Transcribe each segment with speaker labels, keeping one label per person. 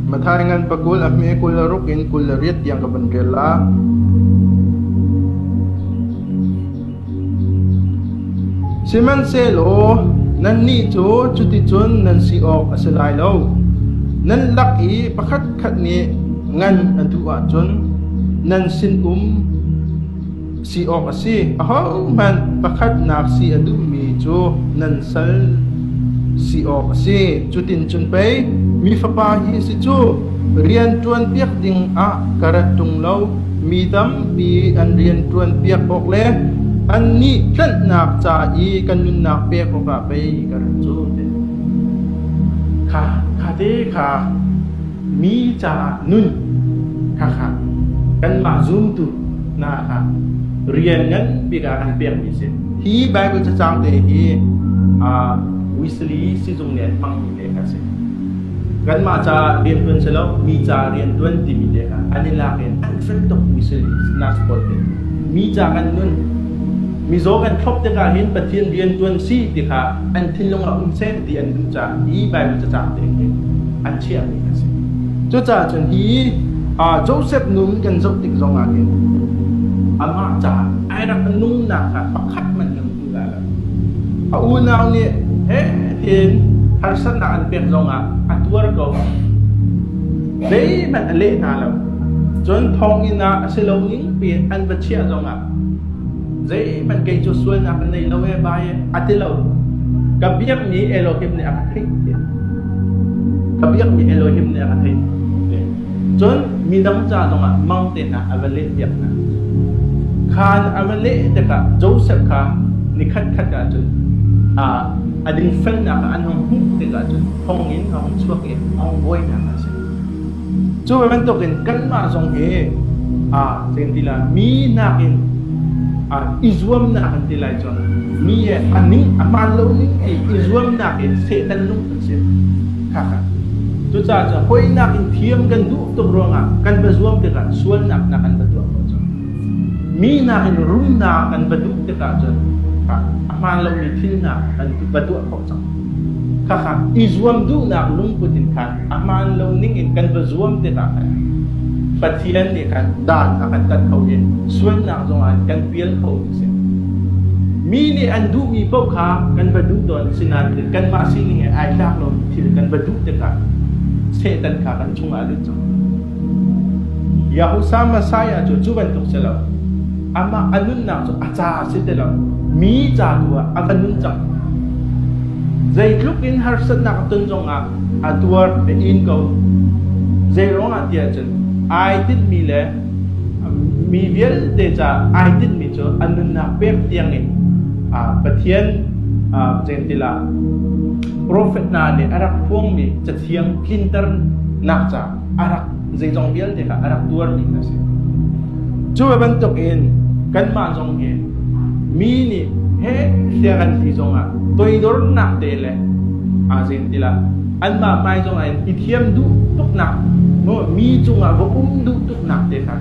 Speaker 1: Mathai ngan pakul a hme kul a ruk in kul le riat tiang ka van rel la. Sihmanhsehlaw nannih cu cuticun nan si awk a si lai lo. Nan lak i pakhatkhat nih ngan a duh ahcun nan sinum. Si awk a si. Ahohmanh pakhatnak si a duhmi cu nan sal si awk a si. Cuticun pei mi Fapa hi si cu rianṭuanpiak ding ah ka rat ṭung lo. Mi tampi an rianṭuanpiak awk le annih tlanhnak ca i kan nunnak pek awkah pei ka rat cu, tiah a ti. Kha khatte kha mi caah nun khakha kanmah zumtu hna kha rian nganbik ah an pekmi a si. Hi Baibal cacang te hi uh, Wesley sizung nih an hmangmi leh a si. Kanmah ca rian tuan si lo, mi ca rian tuan timi te kha an i lak in hrimhrim tuk Wesley nak pawl te. Mi ca kan nun mizaw kan thlop tikah hin Pathian rian tuan si ti kha an thinlung a um sen. ti an duh caah i Baibal cacaang tehte an chiahmi an si. Cucaah cun hi Josef nun kan zoh tik zong ah hin amah caah ai rak nunnak kha pakhat hmanh kan hmu lai lo. A unau nih hehtin harsatnak an pek zong ah a tuar ko. Zeihmanh a leh hna lo. Cun thonginn ah a si lo ning piin an va chiah zong ah Zeihmanh kei cu sualnak ka nei lo ee bai a ti lo. Ka biakmi Elohim nih a ka theih ti. Ka biakmi Elohim nih a ka theih. Cun midang ca zongah mang tenak a va lehpiak hna. Khan a va leh tikah Joseph kha ni khatkhat ah cun a dingfelnak an hung hmuh tikah cun thonginn a hung chuak i a hung buainak a si. Cu bantukin kanmah zong hi aa tlem ti lai. Mi nakin aa i zuamnak kan ti lai cun mi he a ning a hmaan lo ning ti i zuamnak in Satan lung kan si. Khaka. Cucaah cu hawinak in thiam kan duh tuk ruangah kan va zuam tikah sualnak nak kan va tuah khawh cang. Mi nakin rumnak kan va duh tikah cun a hmaan lomi thilnak kan va tuah khawh Khakha i zuam duhnak lungput in khan a hmaan lo ning in kan va zuam tikah khan Pathian nih khan dan a kan tat kho i sualnak zongah kan pial kho a si. Mi nih an duhmi paoh kha kan va duh tawn sinain kanmah sining he ai tlak lomi thil kan va duh tikah Satan kha kan chungah a lut cang. Yahusa Messiah cu cu bantuk si lo. Amah a nunnak cu a ca a si ti lo. Mi ca tu ah a ka nun cang. Zeitluk in harsatnak a ton zongah a tuar a in ko. Zeiruangah ti ahcun ai tinhmi le mi vialte ca ai tinhmi cu a nunnak pek tiang in Pathian zeitintilah profet hna nih a rak phuangmi cathiang tlinternak ca zeizong vialte kha a rak tuarmi a si. Cu bantuk in kanmah zong hi mi nih he thlia kan ti zongah toidornak te le a zin tilah anmah mai zongah in i thiam duh tuknak no mi cungah va um duh tuknak te kha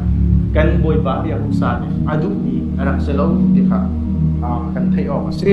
Speaker 1: kan bawipa riak usa nih a duhmi a rak si lo ti kha kan theih awk a si.